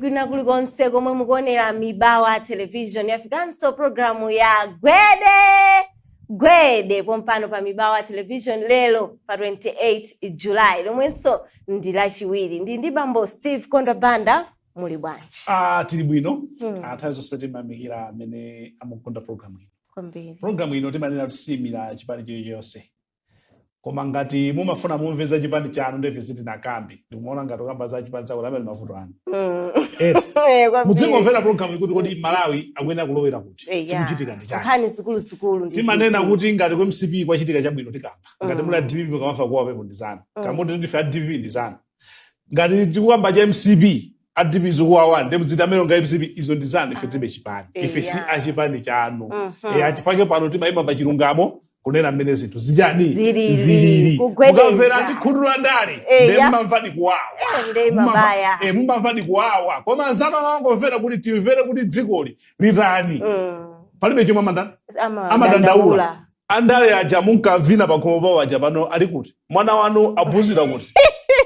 kwina kulikonse komwe mukuonera mibawa television yafikanso programu ya gwede gwede pompano pa mibawa television lero pa 28 july lomwenso ndi lachiwiri ndili ndi bambo steve kondwa banda muli bwanji? Ah, tili bwino hmm. Ah, nthawi zonse timayamikira amene amakonda programu ino kwambiri programu ino timanena kuti siimira chipani chilichonse koma ngati mumafuna mumve za chipani chanu nde ife sitinakambe ndikumaona ngati ukamba za chipani chakuti amene mavuto anu hmm. eh, mudzingomvera programu ikuti kodi malawi akuyenera kulowera kuti eh, chikuchitika ndi chani timanena kuti ngati ku mcp kwachitika chabwino tikamba ngati hmm. muli a dpp kumamva kuwawapo ndi zanu kumati ndife a dpp ndi zanu ngati tikukamba cha mcp a dpp zikuwawa nde mudziti amenewa nga mcp izo ndi zanu ife tilibe chipani ife si Eya. achipani chanu Mhm. Eh, achifake pano timayima pa chilungamo kunena mmene zinthu zichani Zilili, zilili kugwedeza. mukamvera ndi khutu la ndale Eya. nde mmamva ndi kuwawa Eh, nde Mumamva- mabaya. eh, mumamva ndi kuwawa koma anzanu amangomvera kuti timvere kuti dzikoli litani Mm. palibe chomwe amanda Ama- amadandaula dandaula. Andale aja munkavina pakhomo pawo aja pano ali kuti? Mwana wanu aphunzira kuti?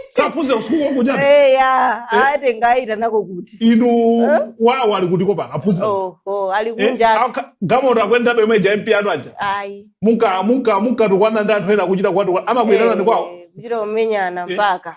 Saphunzira kusukulu kwaku chabe? Eya, eh? atenga apita nako kuti. Inu eh? wawo ali kuti kopano aphunzira? Oh, oh, ali eh, kunja. Eh, galimoto akuyendabe yomwe ija MP anu aja? Ayi. Munka, munka, munkatukwana ndi anthu ena kuchita kwatu. Amakuitanani kwawo? Kuchita kumenyana mpaka.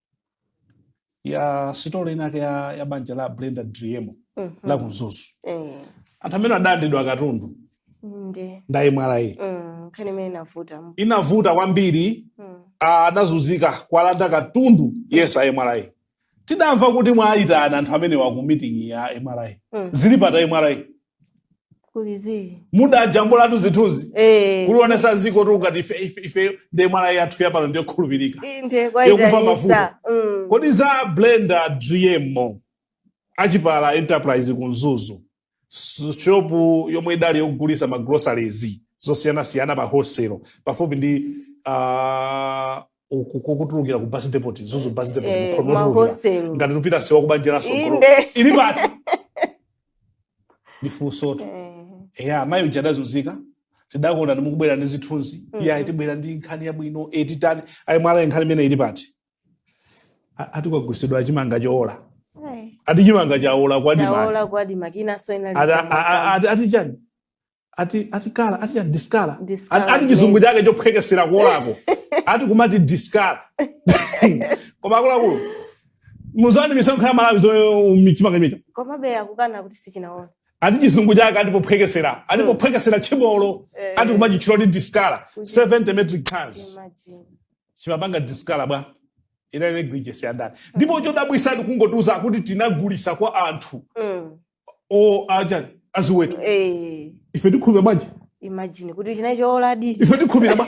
ya story inake ya, ya banja la brenda driemo Mhm. la ku mzuzu Eh, anthu amene adalandidwa katundu ndi a mra mm, nkhani imene inavuta mu- inavuta kwambiri mm, ah, adazunzika kuwalanda katundu yense a mra tidamva kuti mwawayitana anthu amenewa ku meeting ya mra mm, zili pati a mra kuli zii mudajambulatu zithunzi eh kulionetsa dzikotu ngati ife- ife- ife ndi mra yathu yapano ndiyokhulupirika inde Yokufa kwaita mavuto. isa mm. kodi za brenda driemo a chipala enterprise ku mzuzu s- shopu yomwe idali yogulisa ma groceries zosiyanasiyana pa wholesale pafupi ndi uh, uku kokutulukira ku bus depot mzuzu bus depot Eh, mukhomo ma otulukira hostel. ngati tikupita sewa ku banja la mtsogolo Inde. ili pati ndifunsotu Eh, ya mayi uja adazunzika tidakonda ndimukubwera ndi zithunzi mm. iye tibwera ndi nkhani yabwino etitani a mra nkhani imene ili pati A- ati kwagulitsidwa chimanga chowola eh. ati chimanga chawola kwa admarc Chaola kwa admarc inanso ina ati a- a- a- ati- ati chani ati ati kala ati chani diskala Diskala ati, ati chizungu glaze. chake chophwekesera kuolako ati kumati diskala koma akuluakulu muzani misonkho ya amalawi zoyo chimanga chimenechi komabe akukana kuti sichinaole ati chizungu chake ati pophwekesera ati Mm. pophwekesera tchibolo Eh. ati kumachitchula kuti diskala 70 metric tons Imagine. chimapanga diskala bwa ina negligence ya ndani ndipo chodabwisa ati kungotiuza kuti tinagulisa kwa anthu Mm. o aja aziweto eh ife tikhulupira bwanji imagine kuti chinali chooladi ife tikhulupira bwa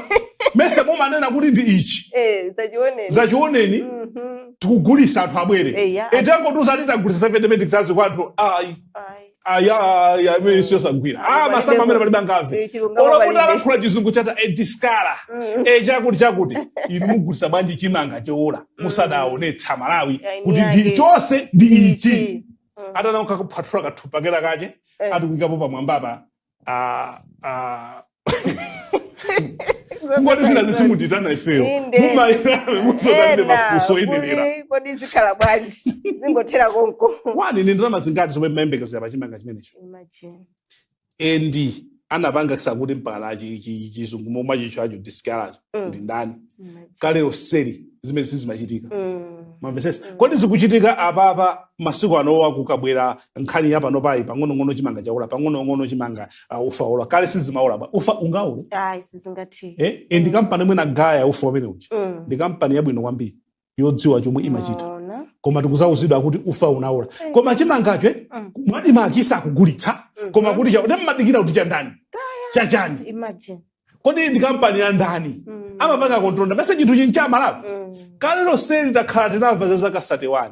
mesa mumanena kuti ndi ichi eh dzachione dzachioneni mhm tikugulisa anthu abwere eh ya atangotiuza ati tagulisa 70 metric tons kwa anthu ayi ai ayi ayi amene siyosagwira ah masamba amene palibe angamve eh chilungamo olakuti palibe alankhula chizungu cha diskala Mm. e chakuti chakuti inu mugulisa bwanji chimanga chowola musadaonetse amalawi Ayi, kuti ndi ndi yake. chonse ndi ichi Ichi. Mm. atana kukakuphwathula kathumba kena kake Eh. ati kuikapo pamwambapa ah, ah, ngati zinazi simutiitana ifeyo Inde. mumayinabe muzotalire Ena, mafunso oyenera kuti kodi zikhala bwanji zingothera konko one ndi ndalama zingati zomwe mmayembekezera pa chimanga chimenecho Imagine. and anapangitsa kuti mpaka chi- chi- chizungu momwe achichacho diskalacho Mm. ndi ndani kale lonseli zimenezi sizimachitika Mm. mwamvetsetsa kodi zikuchitika apapa masiku anowa kukabwera nkhani yapanopayi pang'onong'ono chimanga chaola pang'onong'ono chimanga uh, ufa waola kale sizimaola bwa ufa ungaole ayi sizingathe eh? e ndi kampani yomwe inagaya ufa umene uja Mm. ndi kampani yabwino kwambiri yodziwa chomwe imachita Mwaona? koma tikuzauzidwa kuti ufa unaola Eh. koma chimangacho eh, Mm. mwa ADMARC sakugulitsa koma Mhm. kuti cha- kuti mmadikira kuti chandani chachani Imagine. kodi ndi kampani ya ndani Mm. amapanga control ndani mesa chinthuchi n'cha amalawi Mm. kale lonseli takhala tinamva za zaka 31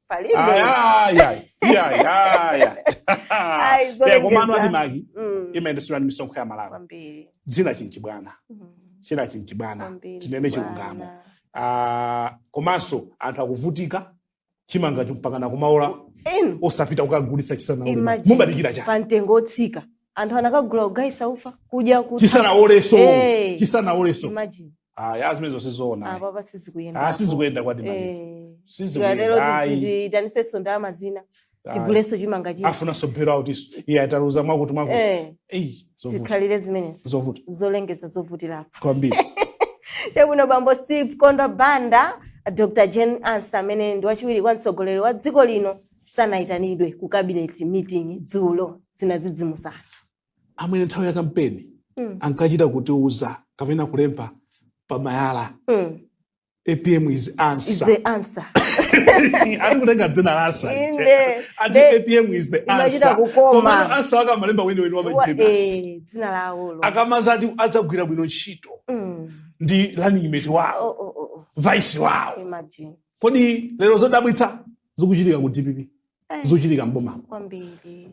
palibe ayayayi iyayayayi Ayi, Eh, zolengeza. komano ADMARC Mm, imayendetsedwa ndi misonkho ya amalawi kwambiri chinachi n'chibwana Mm, chinachi n'chibwana kwambiri tinene bwana. chilungamo Ah, komanso anthu akuvutika chimangacho mpakana kumaola Inu, osapita kukagulitsa chisanaole imagine, mumadikira chani pa mtengo otsika anthu anakagula kugayisa ufa kudya kutha. chisanaoleso Eh. chisanaoleso Imagine. ayi a zimenezo si zoona ayi. apapa sizikuyenda Ah, sizikuyenda kwa ADMARC sizikuyenda lero ayi tiitanitsenso ndalama zina ayi. tigulenso chimanga china afunanso bailout nso iye ataluza mwakuti mwakuti Eh, eyi zovuta zikhalire zimenezi zovuta zolengeza zovutirapo kwambiri chabwino bambo steve kondwa banda dr jane ansah amene ndi wachiwiri kwa mtsogoleri wa dziko lino sanayitanidwe ku cabinet meeting dzulo zinadzidzimusa amene nthawi ya kampeni mm. ankachita kutiuza kapena kulemba pamagalimoto mm. apm is answer, is the answer. ati kutenga dzina la ansa ati apm is the answer komano ansa wake amalemba weniweni wamajemasi eh, dzina lawo akamaza ati adzagwira bwino ntchito mm. ndi lanimeti wawo oh, oh, oh, oh. vice wawo imagine kodi lero zodabwitsa zikuchitika ku dpp Eh, zochitika mboma kwambiri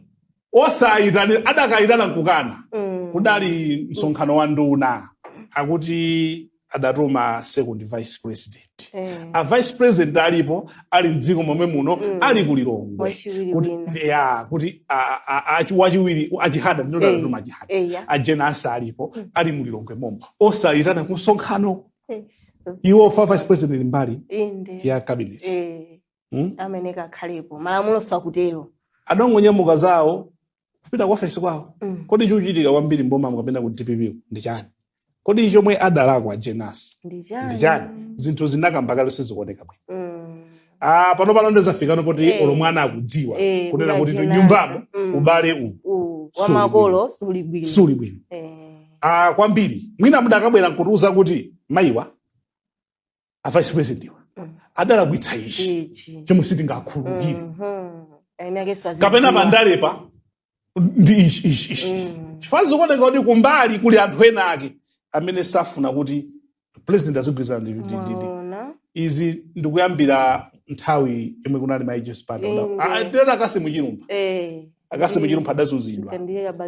osayitana akadayitana nkukana Mm. kudali msonkhano wa nduna akuti adatuma second vice president Eh. a vice president alipo ali mdziko momwe muno ali ku lilongwe Wachiwiri wina. ya kuti a- a- a- achi- wachiwiri a Chihana ndinoti Eh. adatuma a Chihana Eya. a Jane Ansah alipo ali mu lilongwe momo osayitana ku msonkhano Eh, so- iwo ndi vice president mbali inde ya cabinet Eh, Hmm? amene kakhalepo malamulo sakutero adangonyamuka zawo kupita ku ofesi kwawo Mm. kodi chochitika kwambiri mboma mukapenda ku dpp ndi chani kodi chomwe adalakwa Jane Ansah ndi ndi chani chani zinthu zinakamba kale sizikuoneka bwino Mm. Ah, pano pano ndi zafikano poti Eh. olo mwana akudziwa Eh, kunena kuti kuti a Jane Ansah. nyumbamo Mm. ubale uwu U- Suli wa makolo suli bwino Eh. Ah, kwambiri mwina mudakabwera nkutiuza kuti mayiwa a vice president iwa Mm. adalakwitsa ichi ichi chomwe sitingakhululukire Mhm. Ayenera anthu azidziwa. kapena pandale pano ndi ichi ichi ichi Mm. chifukwa zikuoneka kuti kumbali kuli anthu ena ake amene safuna kuti president azigwirizana ndi- ndi- ndi- ndi- Mwaona? izi ndikuyambira nthawi yomwe kunali a Justin pano Inde. ndiye a Cassim Chilumpha Eh. a Cassim Chilumpha adazunzidwa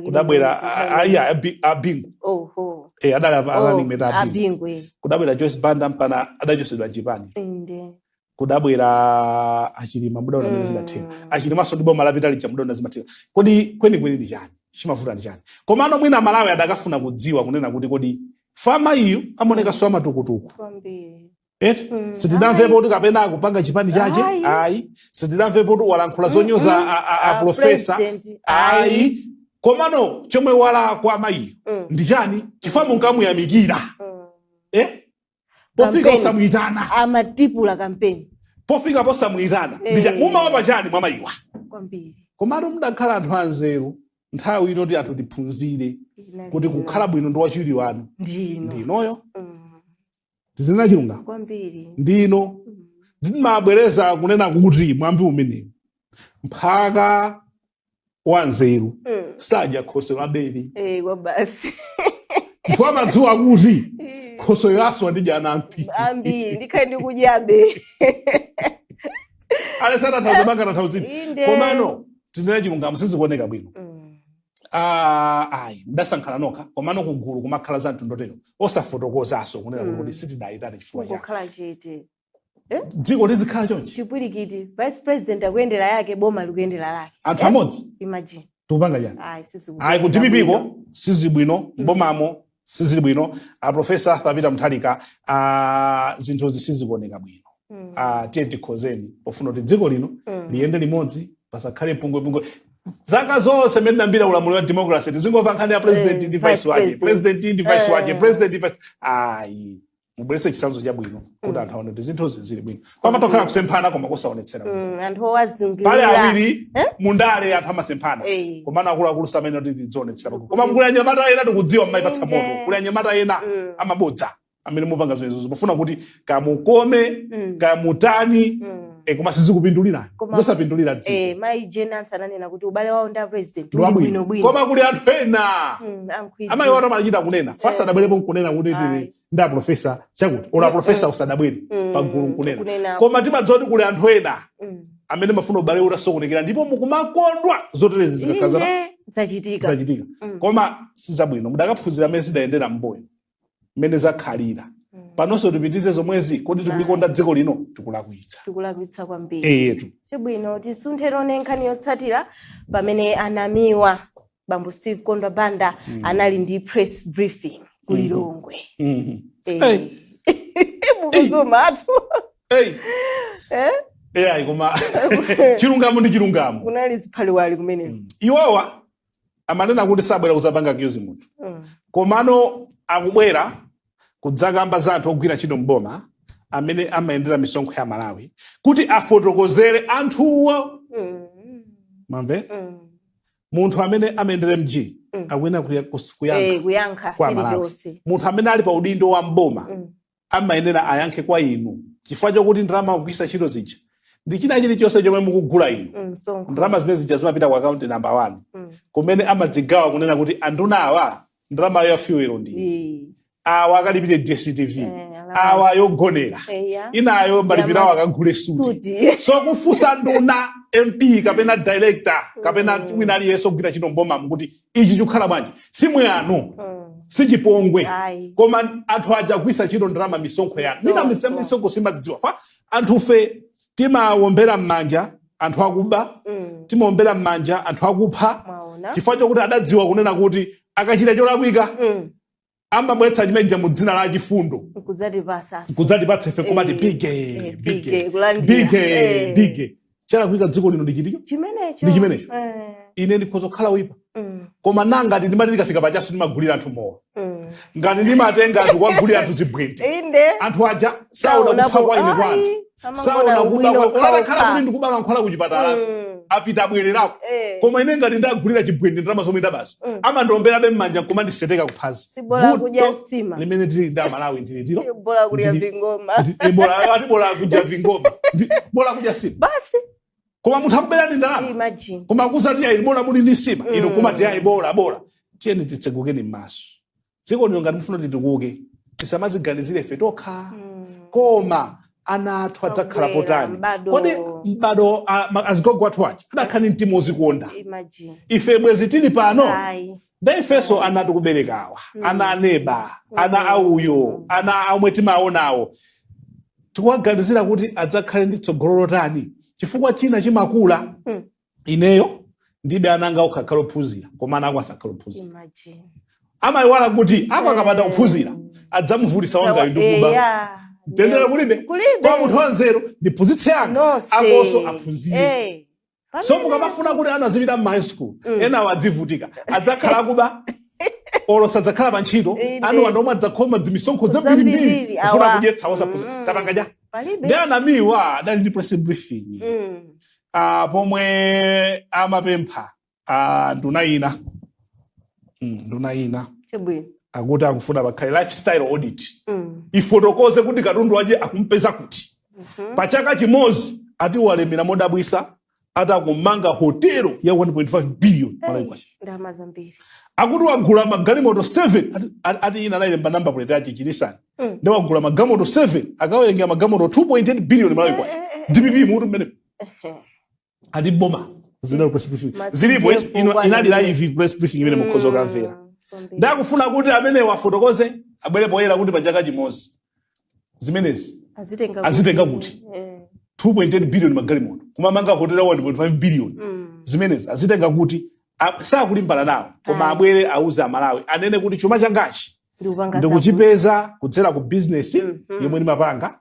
kudabwera ayi abingu oho eh adali ava- Oh, running mate abingu abingu eh. kudabwera Joyce Banda mpaka adachosedwa chipani Inde. kudabwera achilima mudaona mmene zidathera Mm. achilimanso ndi boma lapita lija mudaona zimathera kodi kwenikweni ndi chani chimavuta ndi chani komano mwina amalawi adakafuna kudziwa kunena kuti kodi chifukwa mayiyu amaonekanso amatukutuku Kwambiri. eti mm, sitidamvepo kuti kapena akupanga chipani chache ayi sitidamvepo kuti walankhula zonyoza mm, mm. aprofesa ayi komano chomwe walakwa mayiyo mm. ndi chani chifukwa munkamuyamikira mm. eh? pofika posamuyitana amatipangira kampeni pofika posamuyitana hey. Eh. mumaopa chani mwa mayiwa komano mudakhala anthu anzeru nthawi ino yoti anthu tiphunzire kuti kukhala bwino ndi wachiwiri wanu ndi inoyo mm. tizinena chilungamo kwambiri ndino ndimabwereza kunena kuti mwambi umenewu mphaka wanzeru Mm. sadya khoswe wabele Eh, kwa basi chifukwa amadziwa kuti khoswe uyu aswa ndidya ana ambiri ambiri ndikhale ndikudyabe alesana thauza banga na thauza inde komano tizinena chilungamo sizikuoneka bwino Mm. Ah, ayi mudasankhana nokha komano kugulu kumakhala za mtundu otero osafotokozaso kunena kuti Mm. kuti sitidayitanire chifukwa cha kungokhala chete dziko lizikhala chonchi chipwirikiti vice president akuyendera yake boma likuyendera lake anthu Eh? amodzi imagine tikupanga chani ayi sisi ayi ku dpp ko sizibwino m'bomamo sizili bwino a profesa arthur peter mutharika a zinthuzi sizikuoneka bwino Mm. a tiyeni tikonzeni pofuna kuti dziko lino Mm. liyende limodzi pasakhale pungwepungwe zaka zonse mmene unayambira ulamuliro wa democracy tizingomva nkhani ya president Eh, ndi vice vice wake president. president ndi vice wake Eh. president ndi vice ayi mubweretse chitsanzo chabwino kuti anthu aone kuti zinthu zili bwino pamatokhala kusemphana koma kusaonetsera Mm, anthu pali owazungulira awiri Eh? mundale anthu amasemphana Eh. komano akuluakulu samanena kuti tidzionetsera pagulu koma kuli anyamata ena tikudziwa mmayipatsa Inde. moto kuli anyamata ena Mm. amabodza amene mumapanga zimenezozo pofuna kuti kamukome Mm. kamutani Mm. E, koma sizikupindulira zosapindulira dziko e, mai jane ansah ananena kuti ubale wawo ndi apresident uli bwino koma kuli anthu ena mm, amayi awatu amachita kunena fa adabwerapo nkunena kuti ndi aprofesa chakuti ola aprofesa mm. usadabwere mm, pagulu nkunena koma timadziwa kuti kuli anthu ena mm. amene amafuna ubale utasokonekera ndipo mukumakondwa zoterezi zikakhala zachitika zachitika mm. koma sizabwino mudakaphunzira mmene zidayendera m'mbuyo mmene zakhalira Mm. panonso tipitirize zomwezi kodi tikulikonda dziko lino tikulakwitsa tikulakwitsa kwambiri eyetu chabwino tisunthe tione nkhani yotsatira pamene a namiwa bambo steve chimwendo banda anali ndi press briefing ku lilongwe Mhm. Eh. Hey. mukuzuma tu Hey. Eh? eyayi koma chilungamo ndi chilungamo kunali ziphaliwali kumeneko iwowa amanena kuti sabwera kudzapanga accuse munthu Mm. komano akubwera kudzakamba za anthu ogwira ntchito mboma amene amayendera misonkho ya malawi kuti afotokozere anthuwo Mm. mumve Mm. munthu amene amayendera mg Mm. akuyenera kuya- kus- Eh, kuyankha kuyankha kwa amalawi chilichonse munthu amene ali pa udindo wa mboma Mm. amayenera ayankhe kwa inu chifukwa chokuti ndalama akugwiritsa ntchito zija ndi china chilichonse chomwe mukugula inu Mm, msonkho. ndalama zimene zija zimapita ku akaunti namba 1 Mm. kumene amazigawa kunena kuti anduna awa ndalama ya fuel ndi Eh, awa akalipire dstv Eh, alama. awa yogonera eh, ya. inayo malipiro awo akagule suti Suti. so kufunsa nduna mp kapena director kapena wina aliyense ogwira ntchito m'boma kuti ichi chikukhala bwanji si mwano Mm. si chipongwe Ayi. koma anthu aja agwiritsa ntchito ndalama misonkho yanu mina misa- Misonkho. misonkho sitimazidziwa fa anthufe timawombera m'manja anthu akuba Mm. timawombera m'manja anthu akupha Mwaona? chifukwa chokuti adadziwa kunena kuti akachita cholakwika Mm. amabweretsa chimeja mu dzina la chifundo nkudzatipatsa ife komati bige chalakwika dziko lino ndi chimenecho ine ndikhoza kukhala oyipa mm, koma nanga ngati ndimati ndikafika pachaso ndimagulira anthu mowa mm. ngati ndimatenga anthu kuwagulira anthu zibwente inde anthu aja saona kuipa kwa ine kwa anthu amangoona saona kuba olo atakhala kuti ndikuba mankhwala ku chipatalako Mm. apita abwererako Eh. koma ine ngati ndagulira chibwende ndalama zomwe ndabazo Mm. amandomberabe m'manja nkumandiseteka kuphazi vuto limene tili ndi amalawi ndiloti bola kulya vingoma bola ati bola akudya vingoma Ndi- bola akudya nsima basi koma munthu akuberani ndalama imagine koma akudzati ayi bola muli ndi nsima inu Mm. kumati ayi bola bola tiyeni titsegukeni m'maso dziko lino ngati mufuna titukuke tisamaziganizire ife tokha Mm. koma ana athu adzakhala potani kodi m'bado a- ma- azigogo athu aja adakhala ndi mtima odzikonda Imagine. ife bwezi tili pano Ayi. nde ifenso ana tikuberekawa ana aneba ana auyo ana amwe timaonawo tikuwaganizira kuti adzakhale ndi tsogolo lotani chifukwa china chimakula Mm. ineyo ndi be ana anga okha akhale ophunzira koma ana ako asakhala ophunzira Imagine. amayiwala kuti ako akapanda kuphunzira adzamuvutisa wangayo ndi kuba Eya. mtendere kulibe Kulibe. kwa munthu wanzeru ndiphunzitse anga Nonse. akonso aphunzire Eh. so Pamene- mukamafuna kuti ana azipita m'ma high school enawo adzivutika adzakhala akuba olo sadzakhala pa ntchito Inde. ana anu omwe adzakhoma dzimisonkho zambirimbiri kufuna kudyetsa osaphunzira tapanga aja palibe nde a Namiwa adali ndi press briefing Mm. ah, pomwe amapempha ah, nduna ina Mm, nduna ina chabwino akuti akufuna pakhale lifestyle audit Mm. ifotokoze kuti katundu uja akumpeza kuti Mhm. pa chaka chimodzi ati walemera modabwisa ati akumanga hotelo ya 1.5 billion malawi kwacha ndalama zambiri akuti wagula magalimoto 7 ati ina anayilemba namba plate yake chinisani Mm. nde wagula magalimoto 7 akawerengera magalimoto 2.8 billion malawi kwacha Eh, eh, eh, dpp mutu mmene Ehe. ati boma zinali press briefing zilipo eti, inali live press briefing imene mukhoza kukamvera Mm, kwambiri. nde akufuna kuti amenewa afotokoze abwere poyera kuti pachaka chimodzi zimenezi azitenga kuti? Eh. 2.8 billion magalimoto kumamanga hotela 1.5 billion Mm. zimenezi azitenga kuti A- sakulimbana nawo koma Ayi. abwere auze amalawi anene kuti chuma changachi ndikuchipeza kudzera ku bizinesi Mhm. yomwe ndimapanga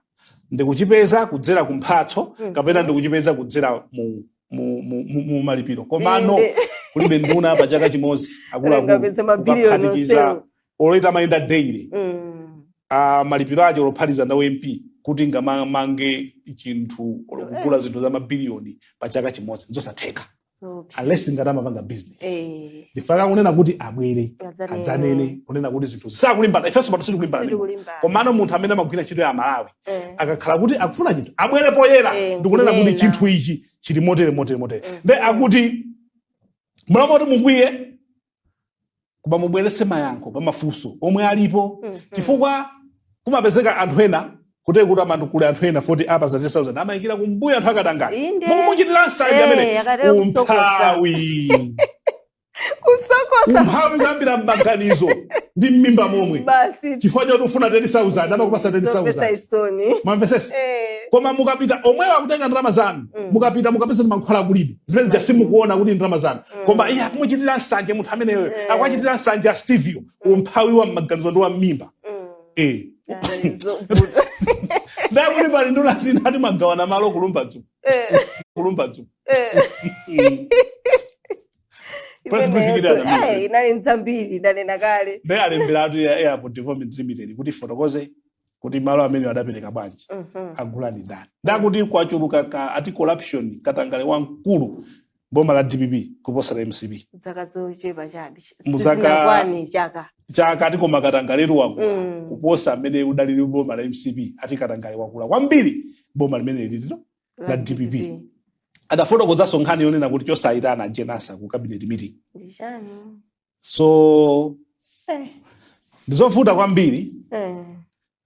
ndikuchipeza kudzera ku mphatso Mhm. kapena ndikuchipeza kudzera mu, mu, mu, mu, mu malipiro komano Inde. kulibe nduna pa chaka chimodzi akuluakulu Angapeze mabiliyoni kukaphatikiza onsewo. olo itamayenda daily Mm. ah, malipiro ache olophatikiza na u MP kuti ngamamange chinthu olo kugula zinthu za mabiliyoni pa chaka chimodzi nzosatheka Zoopsa. unless ngati amapanga business Eh. ndifaka kunena kuti abwere Adzanene. adzanene kunena kuti zinthu zisakulimbana ifenso pano sitikulimbana ndi munthu. Sitikulimbana. komano munthu amene amagwira ntchito ya aMalawi Eh. akakhala kuti akufuna chinthu abwere poyera Eh, ndikunena kuti kunena. chinthu ichi chili motere motere motere nde akuti mulamulo kuti mukwiye koma mubweretse mayankho pa mafunso omwe alipo mm -hmm. chifukwa kumapezeka anthu ena kuti kuti amandu kuli anthu ena 40 apatsa 10000 amayikira kumbuya anthu akatangale mukumuchitira nsanje amene umphawi kusokosa umphawi kuyambira mmaganizo ndi mmimba momwe basi chifukwa choti ufuna 10000 amakupatsa 10000 mwamvetsetsa eh. koma mukapita omwewa akutenga ndalama zanu mm. mukapita mukapeze mankhwala kulibe zimene zija simukuona kuti ndalama zanu koma mm. iye akumuchitira nsanje munthu ameneyo mm. akuwachitira nsanje a stevio mm. umphawi wa mmaganizo ndi wa mmimba eh. nde akuti pali nduna zina ati amagawana malo ku Lumbadzi eh. ku Lumbadzi eh. inali nzambiri ndanena kale ndi alembera mtsogoleri ya airport development limited kuti fotokoze kuti malo amene adapereka bwanji mhm. agulani ndani ndakuti kwachuluka ka ati corruption katangale wamkulu boma la dpp kuposa la mcp dzaka zochepa chabe Mu zaka- sizinakwane chaka chaka ati koma katangaletu wakula Mm. kuposa mmene udalili boma la mcp ati katangale wakula kwambiri boma limene lilili La DPP. adafotokozanso nkhani yonena kuti chosayitana Jane Ansah ku cabinet meeting ndi chani so eh. ndizovuta kwambiri eh.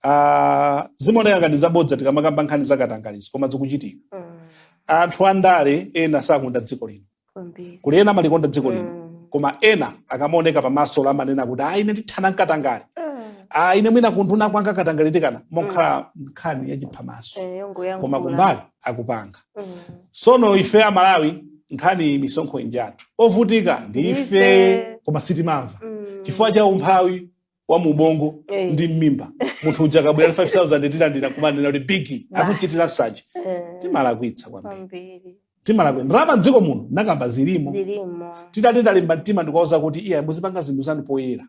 uh, zimaoneka ngati zabodza tikamakamba nkhani zakatangalezi koma zikuchitika mm. anthu andale ena sakonda dziko lino kuli ena amalikonda dziko lino mm. koma ena akamaoneka pamaso amanena kuti ayi ine ndithana nkatangale mm. Ah, ine mwina kumtunda kwanga katangale tikana mokhala mm. nkhani yachiphamaso eh, koma kumbali akupanga sono ife amalawi nkhani misonkho ija njathu ovutika ndi ife Ndife. koma sitimamva chifukwa cha umphawi wa mu ubongo Eh. ndi mmimba munthu uja akabwera 5000 tilandira kumanena kuti bigi Basi. akuchitira nsanje timalakwitsa kwambiri kwambiri timalakwitsa ndalama mdziko muno nakamba zilimo zilimo titati titalimba mtima ndikuwauza kuti iya muzipanga zinthu zanu poyera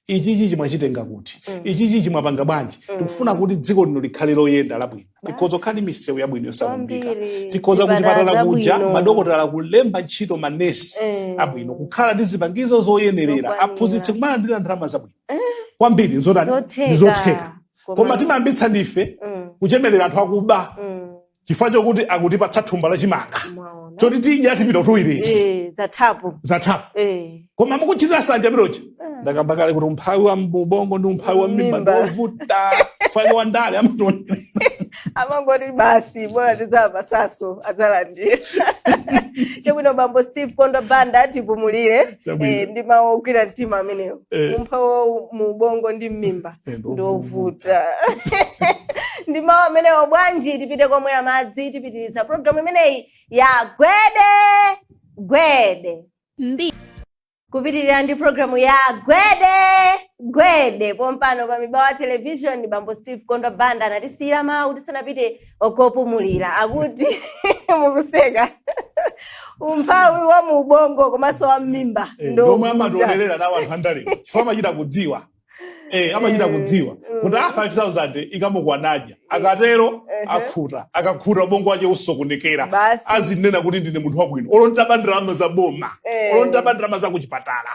ichi chichi mwachitenga kuti mm. ichi chichi mwapanga bwanji mm. tikufuna kuti dziko lino likhale loyenda labwino tikhoza kukhala ndi misewu yabwino yosakumbika tikhoza kuchipatala kuja madokotala kulemba ntchito manesi mm. abwino kukhala ndi zipangizo zoyenerera aphunzitsi kumalandira ndalama zabwino eh. kwambiri nzotheka ndizotheka koma timayambitsa ndife mm. kuchemerera anthu akuba mm. chifukwa chokuti akutipatsa thumba la chimanga mwaona choti tidya tipita kutoileti Eh, zathapo zathapo Eh, koma mukuchitira sanja pilocha ndakamba kale kuti umphawi wa mu ubongo ndi umphawi wa mmimba Mmimba. ndi ovuta fake wa ndale amatoni amangoti basi bora tizampasaso adzalandira chabwino bambo steve kondwa banda atipumulire Chabwino. eh, ndi mawu ogwira mtima amenewo Eh. umphawi wa mu ubongo ndi mmimba Eh, ndovuta. ndovuta ndi mawu amenewo bwanji tipite komwe amadzatipitiriza programu imeneyi ya gwede gwede kupitirira ndi programu ya gwede gwede pompano pa mibawa television bambo steve kondwa banda anatisiyira mawu tisanapite kopumulira akuti mukuseka umphawi wa mu ubongo komanso wa mmimba Eh, ndomwe amatolerera nawo anthu andalewa chifukwa amachita kudziwa Eh, amachita kudziwa kuti a 5000 ikamukwana adya akatero akhuta akakhuta ubongo wake osokonekera Basi. azinena kuti ndine munthu wabwino olo nditaba ndalama za boma Eh. olo nditaba ndalama za kuchipatala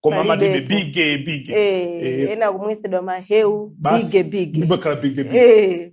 koma amatime Palibepo. bige bige Eh, Eh, ena kumwetsedwa mahewu basi bige bige ndipakhala bige bige Eh,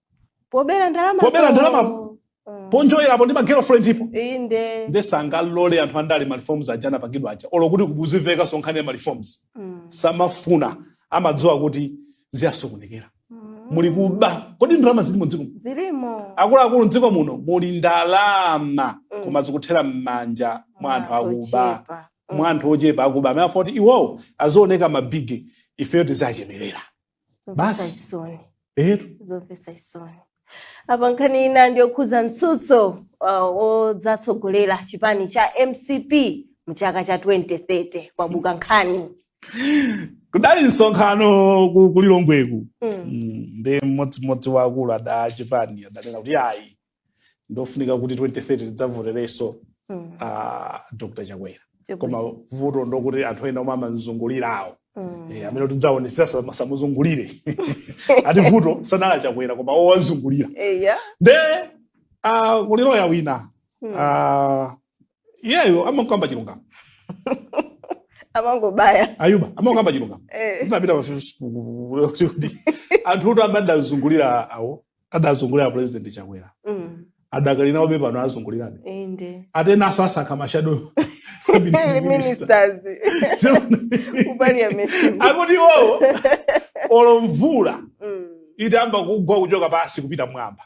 pobera ndalama Pobera ndalama. ponjoyerapo ndi magirlfriend ipo inde nde sangalole anthu andale mareforms aja anapangidwa aja olo kuti kubweretsa nkhani ya mareforms Mm. samafuna amadziwa kuti ziyasokonekera Mm. muli kuba kodi ndalama zilimo mdziko muno? zilimo akuluakulu mdziko muno muli ndalama Mm. koma zikuthera m'manja mwa anthu akuba Ochepa. Mm. mwa anthu ochepa akuba amene afuna kuti iwowo azioneka mabige ifeyo tiziwachemerera Zomvetsa Basi. chisoni. etu zomvetsa chisoni apa nkhani ina ndiyokhuza mtsutso uh, wodzatsogolera chipani cha mcp mu chaka cha 2030 kwabuka nkhani kudali msonkhano ku- kulilongweku Mm. Mm, ndi mmodzi mmodzi wa akuluakulu a chipani adanena kuti ayi ndofunika kuti 2030 tidzavoterenso Mm. ah, dr chakwera Chabwino. koma vuto ndokuti anthu ena omwe amamzungulirawo Mm. Eh, amene tidzaonesa samuzungulire ati vuto sanali a chakwera koma owazungulira Eya. nde ah, kuli loya wina Mm. ah, iyeyo amakamba chilungamo Amangobaya. Ayuba amakamba chilungamo Eh. ndinapita pa facebook kuti anthu kuti amandazungulira awo adazungulira president chakwera Mm. adakali nawobe pano azungulirabe Inde. atenaso asankha mashado Hey, ministers. Ku parliament. akuti iwowo olo mvula Mm. itayamba kugwa kuchoka pasi kupita mwamba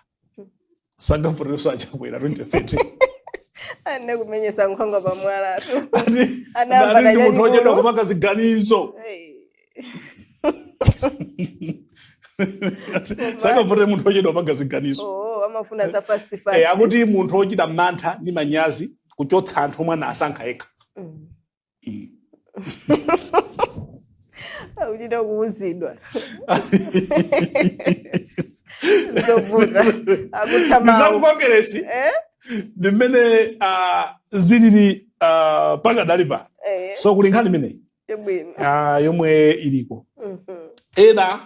sangavotereso achakwera 2030 Anakumenyesa nkhwangwa pamwala tu. ati Anayamba ati ndi munthu kanyanyulo. ochedwa kupanga ziganizo Hey. sangavotere munthu ochedwa kupanga ziganizo oh, amafuna za fast eh, fast. akuti munthu ochita mantha ndi manyazi kuchotsa anthu omwe anasankha yekha Mm. Akuchita kuuzidwa zovuta akutha mawu ndi zaku Kongeresi eh ndi mmene ah, zilili ah, pakadali pano eh so kuli nkhani imeneyi Chabwino. ah, yomwe iliko Mhm. ena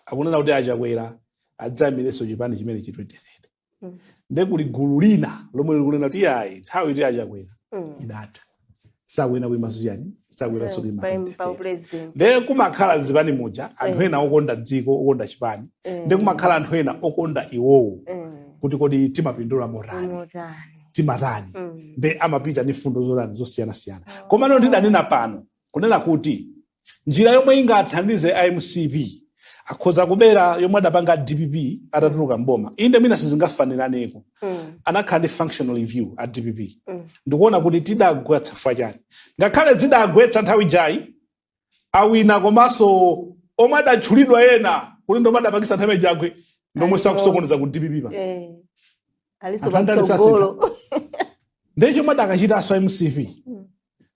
akunena kuti achakwera adzaimirenso chipani chimene chi 2030 Mm. nde kuli gulu lina lomwe likunena kuti ayi nthawi ya achakwera Mm. idatha sakuyenera kuimaso chani sakuyeneraso kuima Pa- pa 2030 upresident. nde kumakhala mzipani muja anthu Eh. ena okonda dziko okonda chipani Eh. nde kumakhala anthu ena okonda iwowo Eh. kuti kodi timapindula motani Motani. timatani Mm. nde amapita ndi mfundo zotani zosiyanasiyana komano ndidanena pano kunena kuti njira yomwe ingathandize a mcp akhoza kubera yomwe adapanga a dpp atatuluka mboma inde mwina sizingafananeko Mm. anakhala ndi functional review a dpp Mm. ndikuona kuti tidagwa chifukwa chani ngakhale zidagwetsa nthawi yatayika awina komanso omwe adatchulidwa ena kuti ndomwe adapangisa chipani chigwe ndomweso akusokoneza ku dpp pa Eh. Aliso Anthu andale sasintha. patsogolo. ndiye chomwe adakachitaso a mcp Mm.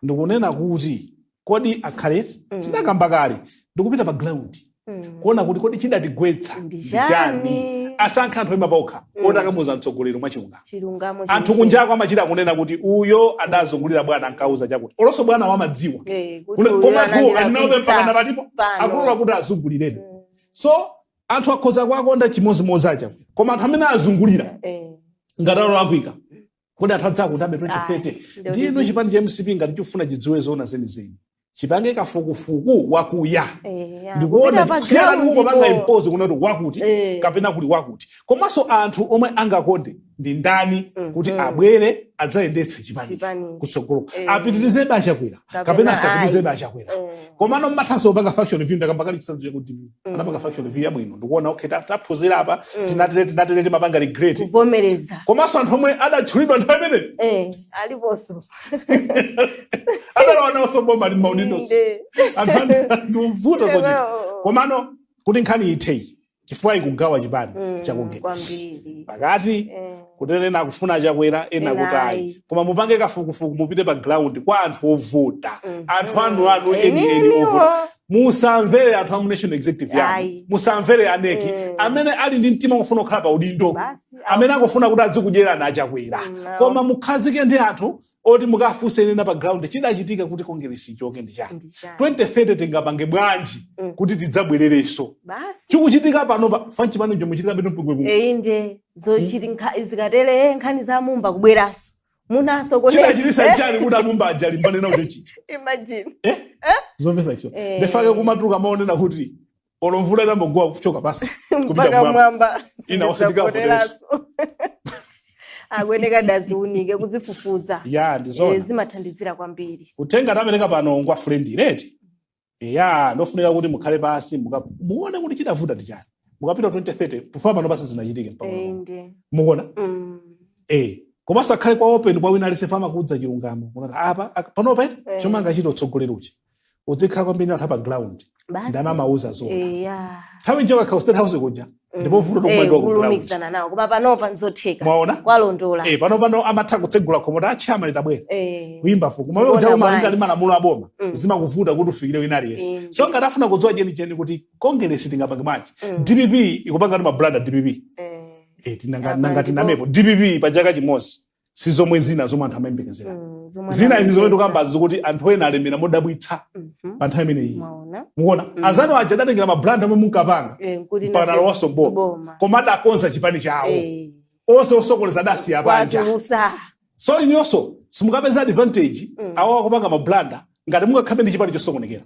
ndikunena kuti kodi akhale Mm. tinakamba kale ndikupita pa ground Mm. kuona kuti kodi chidatigwetsa Ndi ndi chani chani? asankhe anthu oima paokha Mm. oti akamuuza mtsogoleri mwachilungamo chilungamo anthu chenicheni. kunjako amachita kunena kuti uyo adazungulira bwana ankauza chakuti olonso bwana amadziwa Eh, kuti Kune- uyu koma anthu analira alinaobe pizza mpaka napatipo pano. akulola kuti awazungulirebe Mm. so anthu akhoza kuwakonda chimodzimodzi achakwera koma anthu amene awazungulira Eh, ngati ali olakwika kodi anthu adzawakondabe 2030 ndiyeno chipani cha mcp ngati chifuna chidziwe zoona zenizeni chipange kafukufuku wakuya eh, ndikuona kupanga impose kunoti wakuti eh. kapena kuli wakuti komanso anthu omwe angakonde ndi ndani mm, kuti mm. abwere adzayendetse chipani kutsogolo eh. apitirizebe achakwera kapena asapitirizebe achakwera komano mmathanso kupanga functional review ndakamba kale chitsanzo chakuti Mm. anapanga functional review yabwino ndikuona okay ta- taphunzira apa Mm. tinatere tinatere timapanga regret kuvomereza komanso anthu omwe adatchulidwa nthawi imeneyo Eh, aliponso adalawa nawonso boma ali mmaudindoso Inde. anthu andi- ndivuta zochita Oh. komano kuti nkhani itheyi chifukwa ikugawa chipani Mm, cha Kongeresi kwambiri pakati Eh, kuti ena akufuna chakwera ena Ena kuti ayi ayi. koma mupange kafukufuku mupite pa ground kwa anthu ovota Mhm. anthu anu anu eni eni Enieniwo. ovota musamvere anthu amu national executive yanu Ayi. musamvere aneki Eh. amene ali ndi mtima wofuna kukhala pa udindo Basi, amene akufuna kuti adzikudyerani a Chakwera Mm, koma mukhazike ndi anthu oti mukafunse ena pa ground chidachitika kuti kongeresi ichoke ndi chani? 2030 tingapange bwanji Mm. kuti tidzabwererenso Basi. chikuchitika pano pa fanchi pano chomwe chitika bwino mpungwepungwe Eh, inde zochitika zikatere nkhani za a Mumba kubweranso munasokoneza chidachititsa chani kuti a Mumba ajalimbane nawo chochicha imagine eh? zomvesa icho Eh. ndefake kumatuka maonena kuti olo mvula inambogowa kuchoka pansi kupita mpaka mwamba mwamba Ina wasindika Ndidzapoteranso. akuyeneka adziunike kudzifufuza ya Eh, ndizona zimathandizira kwambiri uthenga tapereka pano ngwa friend reti eya ndofunika kuti mukhale pansi muka- muone kuti chidavuta ndi chani mukapita 2030 tufa pano pasi zinachitike mpang'ono pomwe. inde mukuona Mm. eh komanso akhale kwa open kwa wina aliyense amakuuza chilungamo mukuona apa ak- panopa eti Eh. chomwe angachita utsogoleri uchi udzikhala kwambiri anthu apa ground basi ndimamuuza zona eya nthawi nje wakhala state house kuja ndipo vuto Eh, tokumaliwa ku ground kulumikizana nawo koma panopa nzotheka Mwaona? kwalondola eh pano pano amatha kutsegula khomo Achama litabwera Eh, kuimba Mfumu Kuona mawe ujalo malinga bwanji. ndi malamulo a boma Mm. zimakuvuta kuti ufikire wina aliyense Mm. so ngati afuna kudziwa chenicheni kuti kongeresi tingapange bwanji Mm. dpp ikupanga timablanda dpp eh, Eh, tinanga- Apa nanga ndipo- tinamepo, dpp pa chaka chimodzi si zomwe zina zomwe anthu amayembekezera Mm, zomwe zina izi zomwe anamvetsa. tikukambazi zokuti anthu ena alemera modabwitsa Mhm. pa nthawi imeneyi Mwaona? mukuona Mm. azanu aja adatengera mablanda omwe munkapanga Eh, nkuti mpaka nalowanso boma boma. koma adakonza chipani chawo Eh, onse osokoneza adasiya panja kuwatulutsa. so inuyonso simukapeza advantage Mm. awo akupanga mablanda ngati mungakhalebe ndi chipani chosokonekera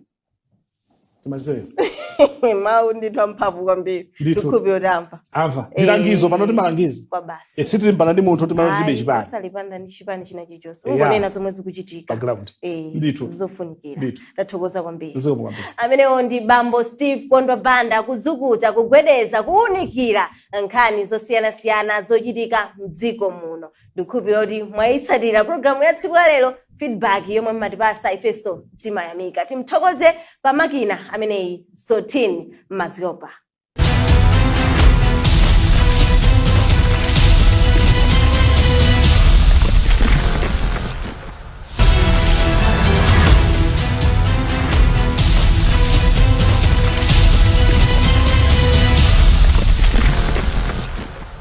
ndi mawu ndithu amphamvu kwambiri Ndithu. tikhulupira kuti amva amva Eh. ndi langizo pano ndi malangizo awa basi e, sitilimbana ndi munthu tilibe Ayi, chipani sitilimbana ndi chipani china chilichonse Yeah. kungonena zomwe zikuchitika pa ground Eh, Ndithu. zofunikira Ndithu. tathokoza kwambiri zikomo kwambiri amenewo ndi bambo steve kondwa banda kuzukuta kugwedeza kuwunikira nkhani zosiyanasiyana zochitika mdziko muno ndikukhulupirira kuti mwayitsatira programu ya tsiku la lero feedback yomwe mmatipasa ifenso timayamikira timuthokoze pa makina ameneyi sotin maziopa